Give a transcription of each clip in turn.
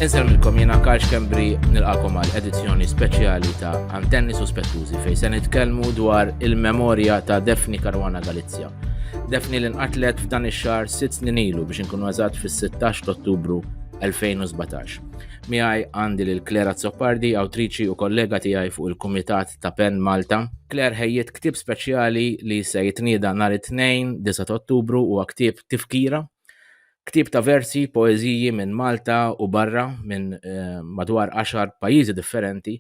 Inselmilkom jena Karl Kembri nilqakom għal edizzjoni speċjali ta' Antenni Suspettużi fej se nitkellmu dwar il-memorja ta' Defni Karwana Galizja. Defni li nqatlet f'dan ix-xahar sitt snin ilu biex inkunu eżatt fis-16 ta' Ottubru 2017. Miħaj għandi lil Klera Zoppardi, awtriċi u kollega tiegħi fuq il-Kumitat ta' Pen Malta. Claire ħejjiet ktieb speċjali li se jitnieda nhar it-Tnejn, 9 ta' Ottubru huwa ktieb Tifkira. Ktieb ta' versi, poeżiji minn Malta u barra minn eh, madwar għaxar pajjiżi differenti,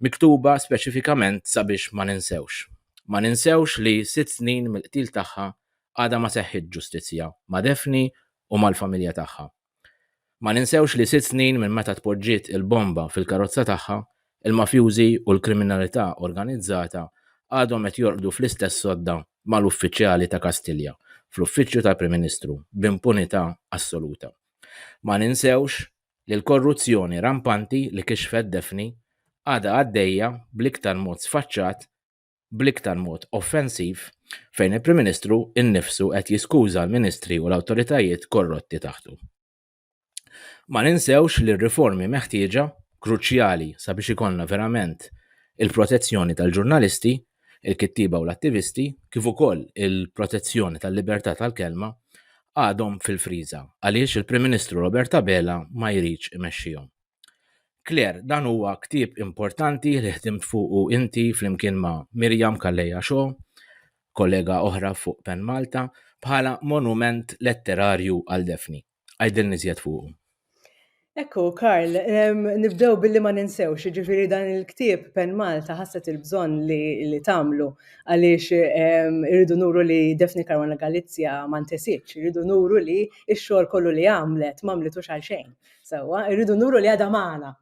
miktuba speċifikament sabiex ma ninsewx. Ma ninsewx li sitt snin mill-qtil tagħha għadha ma seħħitx ġustizzja ma' Daphne u mal-familja tagħha. Ma ninsewx li sitt snin minn meta tpoġġiet il-bomba fil-karozza tagħha, il-mafjużi u l-kriminalità organizzata għadhom qed jorqdu fl-istess sodda mal-uffiċjali ta' Kastilja fl-Uffiċċju tal-Prim Ministru b'impunità assoluta. Ma ninsewx li l-korruzzjoni rampanti li kixfet Daphne għadha għaddejja bl-iktar mod sfaċċat bl-iktar mod offensiv fejn il-Prim Ministru innifsu qed jiskuża l-Ministri u l-awtoritajiet korrotti taħtu. Ma ninsewx li r-riformi meħtieġa, kruċjali sabiex ikollna verament il-protezzjoni tal-ġurnalisti, il-kittieba u l-attivisti, kif ukoll il-protezzjoni tal-libertà tal-kelma, għadhom fil-friża għaliex il-Prim Ministru Robert Abela ma jridx imexxihom. Claire, dan huwa ktieb importanti li ħdimt fuqu inti flimkien ma' Mirjam Kalleja Xo, kollega oħra fuq Pen Malta, bħala monument letterarju għal Daphne. Għidilni żjed fuqu. Ekku, Karl, nibdew billi ma ninsewx, ġifiri dan il-ktib Pen Malta ħasset il-bżon li tamlu għaliex irridu nuru li Defni Karwana Galizja ma ntesitx, irridu nuru li x-xogħol kollu li għamlet ma għamlitux għal xejn. Sewwa, irridu nuru li għadha magħna.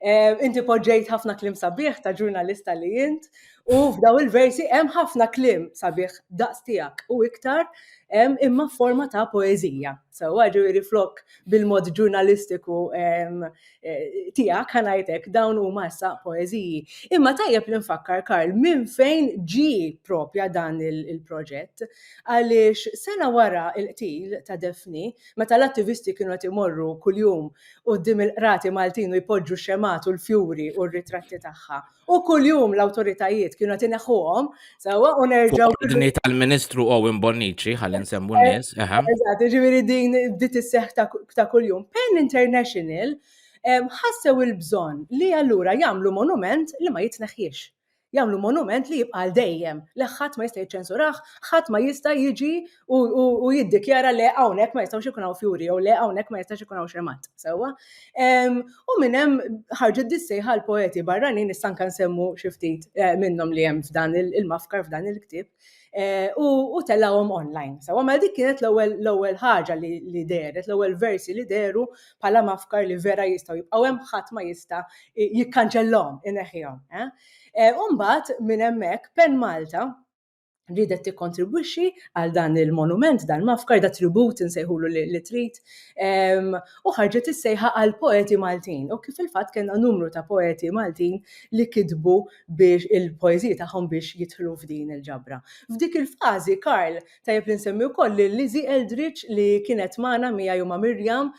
Eh, inti poġġejt ħafna klim sabiħ ta' ġurnalista li jint u f'daw il-versi hemm ħafna klim sabiħ daqs tiegħek u iktar hemm imma forma ta' poeżija. So ġifieri flok bil-mod ġurnalistiku eh, tiegħek ħanajtek dawn huma issa poeżiji. Imma tajjeb li nfakkar Karl minn fejn ġi propja dan il-proġett għaliex sena wara il-qtil ta' Defni Meta l-attivisti kienu qed imorru kuljum quddiem il-qrati Maltin u jpoġġu x-xemgħat u l-fjuri u r-ritratti tagħha. U kuljum l-awtoritajiet kienu qed ineħħuhom, sewwa u nerġgħu. Ordni tal-Ministru Owen Bonnici, ħalli nsemmu eh, n-nies. Eżatt, ġifieri din bdiet isseħħ ta' kuljum. Pen International ħassew il-bżonn li allura jagħmlu monument li ma jitneħħiex. jagħmlu monument li jibqa' għal dejjem, li ħadd ma jista' jiċċensurah, ħadd ma jista' jiġi u jiddikjara le hawnhekk ma jistgħux ikun hawn fjuri jew le hawnhekk ma jistax ikun hawn xemgħat, sewwa. Ehm, u minn hemm ħarġet dis-sejħa l-poeti barranin issa anke nsemmu xi ftit eh, minnhom li hemm f'dan il-mafkar f'dan il-ktieb. Eh, u tellawhom online. Sawa, ma dik kienet l-ewwel ħaġa li deret, l-ewwel versi li deru bħala mafkar li vera jistgħu jibqgħu hemm ħadd ma jista' jikkanċellhom, ineħħihom. Eh. Eh, u mbagħad minn hemmhekk Pen Malta ridet tikkontribwixxi għal dan il-monument, dan mafkar da tribut insejħulu li trid, ehm, u ħarġet is-sejħa għal poeti Maltin. U kif il-fatt kellna numru ta' poeti Maltin li kitbu biex il-poeżiji tagħhom biex jidħlu f'din il-ġabra. F'dik il-fażi, Karl, tajjeb li nsemmi wkoll lil Lizzie Eldridge li kienet magħna miegħi u ma' Miriam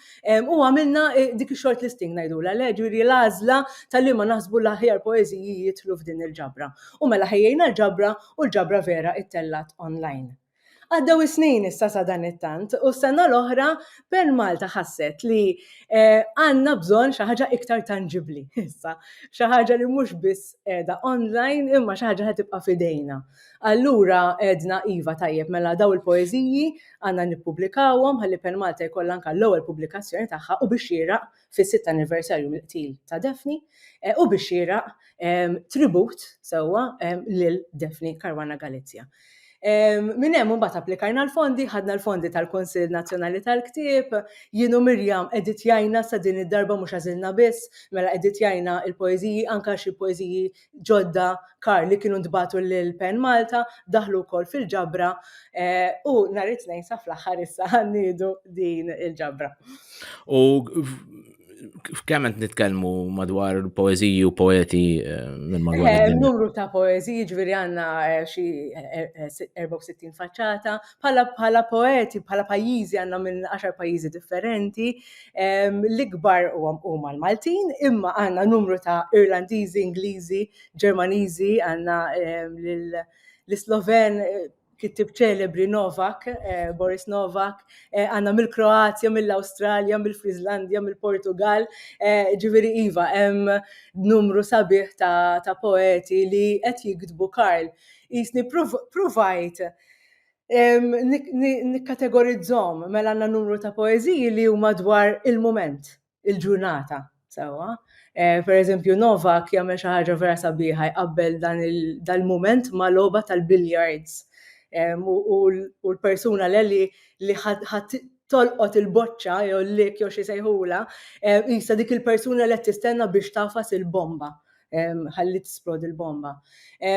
u għamilna dik ix-short listing ngħidulha le, ġifieri l-għażla ta' liema naħsbu l-aħjar poeżiji jidħlu f'din il-ġabra. U mela ħejjejna l-ġabra u l-ġabra vera ttellgħet online. Għaddew is-snin issa sadanittant u s-sena l-oħra Pearl Malta ħasset li għandna bżonn xi ħaġa iktar tanġibbli issa, xi ħaġa li mhux biss qiegħda online imma xi ħaġa li ħa tibqa' f'idejna. Allura għedna iva tajjeb mela dawn il-poeżiji għandna nippubblikawhom ħalli Pearl Malta jkollha anke l-ewwel pubblikazzjoni tagħha u bix-xieraq fis-sitt anniversarju mill-qtil ta' Daphne u biex xieraq tribut sewwa lil Daphne Caruana Galizia. Minn hemm imbagħad applikajna l-fondi, ħadna l-fondi tal-Kunsill Nazzjonali tal-Ktieb, jien u Mirjam editjajna sa din id-darba mhux għażilna biss, mela editjajna l-poeżiji anke xi poeżiji ġodda kar li kienu ntbatu lil Pen Malta daħlu wkoll fil-ġabra eh, u nhar it-tnejn sa fl-aħħar issa ħannidu din il-ġabra. U kemm qed nitkellmu madwar poeżiji u poeti eh, minn madwar eh, id-dinja? Numru ta' poeżiji ġifieri għandna xi 64 faċċata, bħala poeti, bħala pajjiżi għandna minn 10 pajjiżi differenti, L-ikbar huma l-Maltin, imma għandna numru ta' Irlandiżi, Ingliżi, Ġermaniżi, għandna l-Isloven, kittieb ċelebri Novak, Boris Novak, għandna mill-Kroazja, mill-Awstralja, mill-Friżlandja, mill-Portugall, ġifieri iva, hemm numru sabiħ ta' poeti li qed jiktbu Karl. Qisni ppruvajt nikkategorizzhom mela għandna numru ta' poeżiji li huma dwar il-mument, il-ġurnata, sewwa. Eh, per eżempju, Novak jagħmel xi ħaġa vera sabiħa jqabbel dan il-mument ma' logħba tal-billiards. U l-persuna l-eli li ħadd tolqot il-boċċa jew l-lik jew xi sejħula, jisa dik il-persuna li qed tistenna biex tafas il-bomba. ħalli tisplodi l-bomba.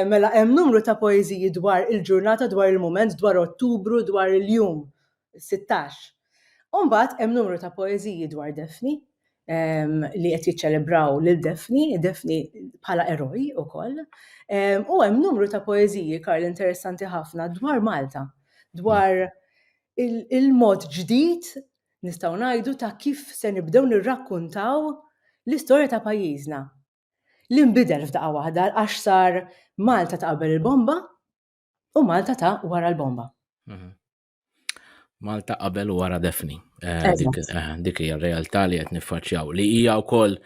Mela hemm numru ta' poeżiji dwar il-ġurnata, dwar il-mument, dwar Ottubru, dwar il-jum 16. Umbagħad hemm numru ta' poeżiji dwar Defni li qed jiċċelebraw lil Defni, Defni bħala eroj ukoll. U hemm numru ta' poeżiji Karl interessanti ħafna dwar Malta, dwar il-mod ġdid nistgħu ngħidu ta' kif se nibdew nirrakkuntaw l-istorja ta' pajjiżna. Li nbidel f'daqqa waħda għax sar Malta ta' qabel il-bomba u Malta ta' wara l-bomba. Mhm. Malta qabel u wara defni. Eh, eh, dik hija r-realtà li qed niffaċċjaw li hija wkoll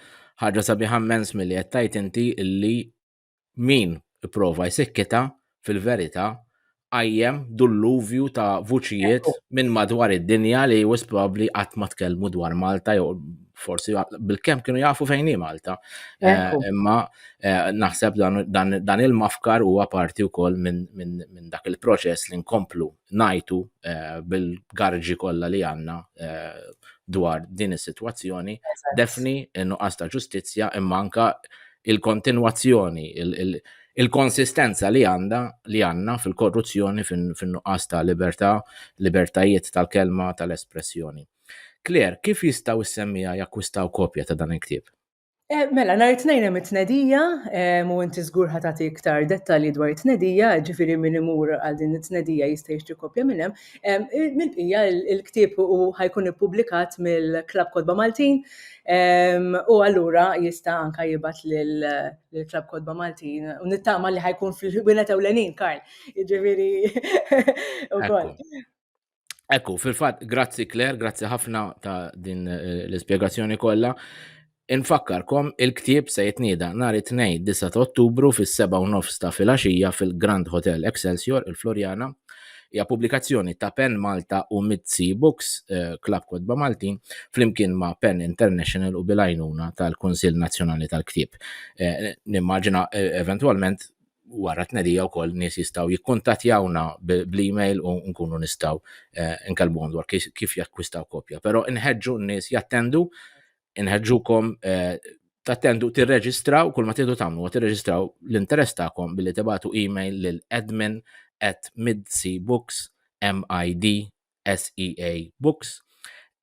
ħaġa sabiħa mens milli qed tajt inti li min ipprova jsikkitha fil-verità qajjem dulluvju ta' vuċijiet minn madwar id-dinja li wis probabbli qatt ma tkellmu dwar Malta jew forsi bil-kemm kienu jafu fejn hi Malta. Eh, imma eh, naħseb dan il-mafkar huwa parti wkoll minn dak il-proċess li nkomplu ngħidu bil-garġi kollha li għandna dwar din is-sitwazzjoni, defni n-nuqqas ta' ġustizzja imma anka il-kontinwazzjoni, il-konsistenza li għandha li għandna fil-korruzzjoni fin-nuqqas ta' libertà, libertajiet tal-kelma, tal-espressjoni. Claire, kif jistgħu s-semmiegħa jakkwistaw kopja ta' dan il-ktieb? Eh, mela, nhar it-tnejn hemm it-tnedija, eh, u inti żgur ħa tagħti iktar dettalji dwar it-tnedija, ġifieri min imur għal din it-tnedija jista' jixtri kopja minn hemm. Eh, mill-bqija il-ktieb u ħajkun ippubblikat mill-Klabb Kodba Maltin u allura jista' anka jibgħat lill-Klabb Kodba Maltin u nittama li ħajkun fil-ħwienet ewlenin, Karl. Ġifieri ukoll. Ekku, fil-fatt, grazzi Claire, grazzi ħafna ta' din eh, l-ispjegazzjoni kollha. Infakkarkom il-ktieb se jitnieda nhar it-tnejn 9 ta' Ottubru fis-7 nofs ta' filgħaxija fil-Grand Hotel Excelsior il-Florjana. Hija pubblikazzjoni ta' Pen Malta u Mitzi Books, eh, Klab Kodba Maltin, flimkien ma' Pen International u bilajnuna tal-Kunsill Nazzjonali tal-Ktieb. Eh, nimmaġina eventwalment wara tnedija wkoll nies jistgħu jikkuntattjawna bl-email u nkunu nistgħu eh, nkellmuhom dwar kif jakkwistaw kopja. Però nħeġġu n-nies jattendu, nħeġġukom eh, tattendu tirreġistraw kull ma tidu tagħmlu tirreġistraw l-interess tagħkom billi tibatu email lil admin at midseabooks m i d s e a books